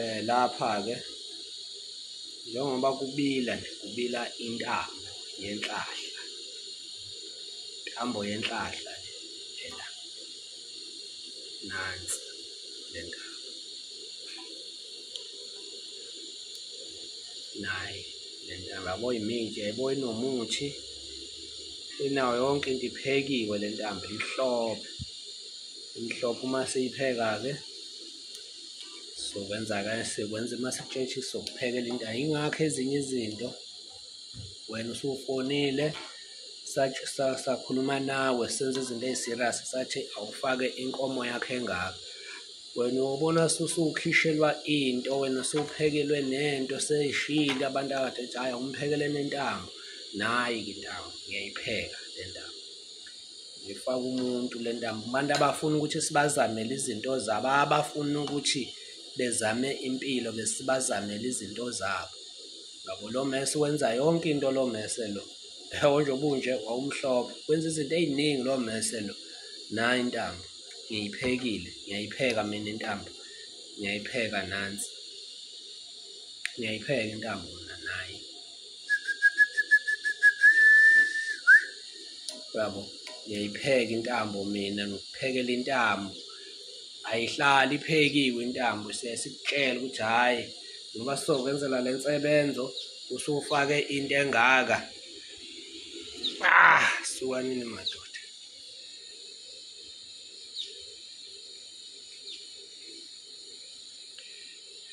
eh lapha ke njengoba kubila nje kubila intambo yenhlahla intambo yenhlahla ela nansi lenga naye lentaba yabo imintshe yabo inomuthi inayo yonke into iphekiwe lentambo inhlophe imhlophe uma siyipheka-ke sokwenza-ke sikwenza uma sitshetshi sokuphekela into ayingakho ezinye izinto wena usufonile sakhuluma nawe senza izinto ey'serious sathi awufake inkomo yakho engaka wena ubona susukhishelwa into wena sewuphekelwe nento seyishile abantu akade ethi hhayi awumphekele nentambo nayi-ke intambo ngiyayipheka le ntambo ngifaka umuntu le ntambo abantu abafuna ukuthi sibazamele izinto zabo abafuna ukuthi bezame impilo besibazamele izinto zabo ngabo lo mese wenza yonke into lo mese lo yabo nje obunje wawumhlophe wenza izinto ey'ningi lo mese lo nayi intambo ngiyiphekile ngiyayipheka mina intambo ngiyayipheka nansi ngiyayipheka intambo yabo ngiyayipheka intambo mina ngikuphekela intambo ayihlali iphekiwe intambo siyayisitshela ukuthi hhayi ngoba sizokwenzela le nsebenzo usufake into engaka ah sukanini madoda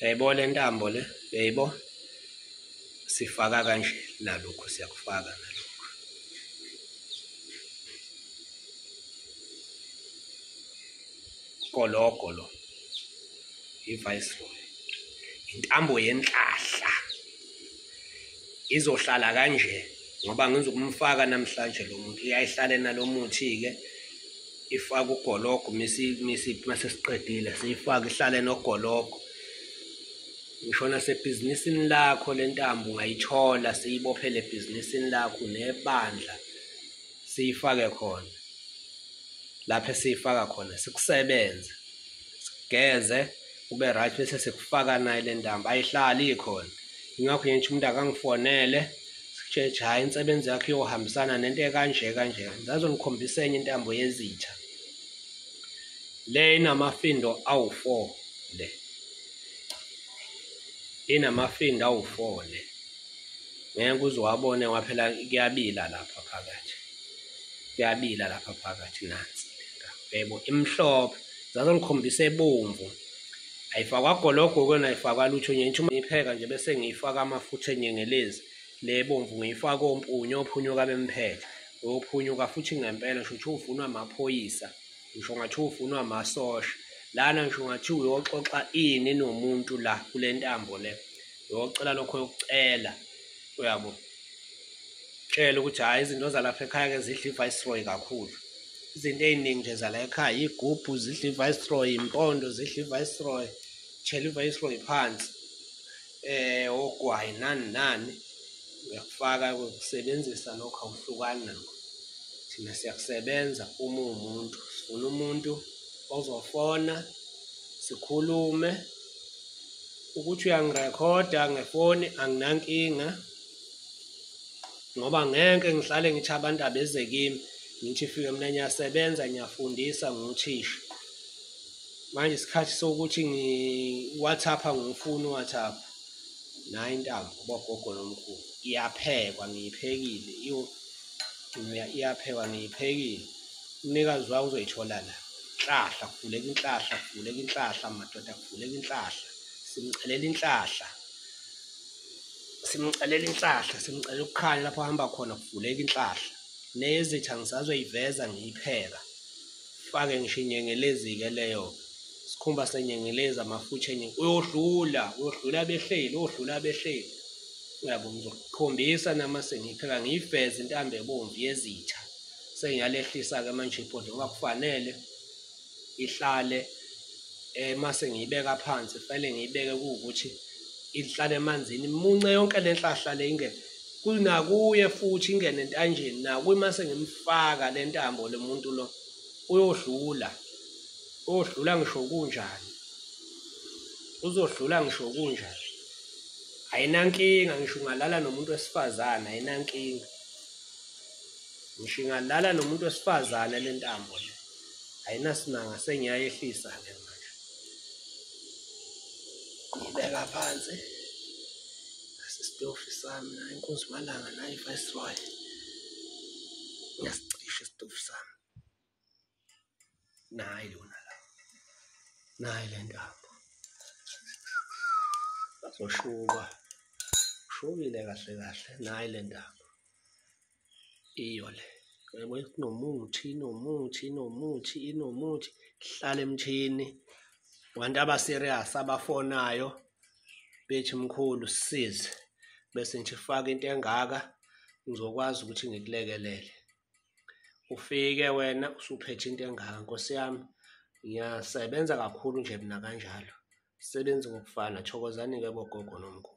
yayibona intambo le yayibo sifaka kanje nalokhu siyakufaka nalokhu gologo lo i-viceroy intambo yenhlahla izohlala kanje ngoba ngizokumfaka namhlanje lo muntu uyayihlale nalo muthi-ke ifake ugologo mase siqedile siyifake ihlale nogologo ngisho nasebhizinisini lakho le ntambo ungayithola siyibophele ebhizinisini lakho nebandla siyifake khona lapho esiyifaka khona sikusebenze sigeze ube right bese sikufaka naye le ntambo ayihlali ikhona ingakho nje umuntu akangifonele sitsheje hhayi insebenzi yakho iyohambisana nento ekanje kanje ngazongikhombisa enye intambo yezitha le inamafindo awu-four le inamafinda awufone ngeke uze wabone waphela kuyabila lapha phakathi kuyabila lapha phakathi nansi yebo imhlophe zaze ngikhombisa ebomvu ayifakwa gologo kona ayifakwa lutho nje ngisho ngipheka nje bese ngiyifaka amafutha enyengelezi le bomvu ngiyifaka ompunyo ophunyuka bemphethe ophunyuka futhi ngempela shuthi uvunwa amaphoyisa ngisho ngathi ufunwa amasosha lana ngisho ngathi uyoxoxa ini nomuntu la kule ntambo le uyocela lokho yokucela uyabo tshela ukuthi hhayi izinto zalapha ekhaya-ke zidla iviceroy kakhulu izinto ey'ningi nje zala ekhaya iy'gubhu zidla iviceroy impondo zidla iviceroy tshela iviceroy phansi eh ogwayi nani nani uyakufaka ukusebenzisa lokho awuhlukani nakho thina siyakusebenza uma uwumuntu sifuna umuntu ozofona sikhulume ukuthi uyangirekhoda ngefoni anginankinga ngoba ngeke ngihlale ngithi abantu abeze kimi ngithi fike mina ngiyasebenza ngiyafundisa ngiwuthisha manje isikhathi sokuthi ngiwathapha ngifuna uwathapha nayo intambo bogogo nomkhulu iyaphekwa ngiyiphekile iyo iyaphekwa ngiyiphekile umnikazi wayo uzoyithola la inhlahla kuvuleka inhlahla kuvuleka inhlahla madoda kuvuleka inhlahla simcelela inhlahla simcelela inhlahla simcelela ukukhanya lapho ahamba khona kuvuleka inhlahla nezitha ngisazoyiveza ngiyipheka fake ngisho inyengelezi-ke leyo sikhumba senyengelezi amafutha enye uyodlula uyodlula abehleli uyodlula abehleli uyabo ngizokukhombisa nama sengipheka ngiyiveze intambo ebomvu yezitha sengiyalehlisa-ke manje ibhodi ngoba kufanele ihlale eh mase ngiyibeka phansi fanele ngiyibeke ukuthi ihlale emanzini imunce yonke le nhlahla le ingeke kunakuye futhi ingene entanjeni nakuye mase ngimfaka le ntambo lo muntu lo uyodlula uyodlula ngisho kunjani uzodlula ngisho kunjani ayinankinga ngisho ungalala nomuntu wesifazane ayinankinga ngisho ingalala nomuntu wesifazane le ntambo le ayinasimanga sengiyayehlisa ke manje ngibeka phansi Sisitofi sami naye inkunzi malanga naye iviceroy ngiyasicisha isitofi sami nayi lona la nayi le ntambo azoshuba ushubile kahle kahle nayi le ntambo iyo le yabo inomuthi inomuthi inomuthi inomuthi hlala emthini abantu abaserious abafonayo bethi mkhulu size bese nje faka into engaka ngizokwazi ukuthi ngikulekelele ufike wena usuphethe into engaka nkosi yami ngiyasebenza kakhulu nje mina kanjalo sebenzi ngokufana thokozani-ke bogogo nomkhulu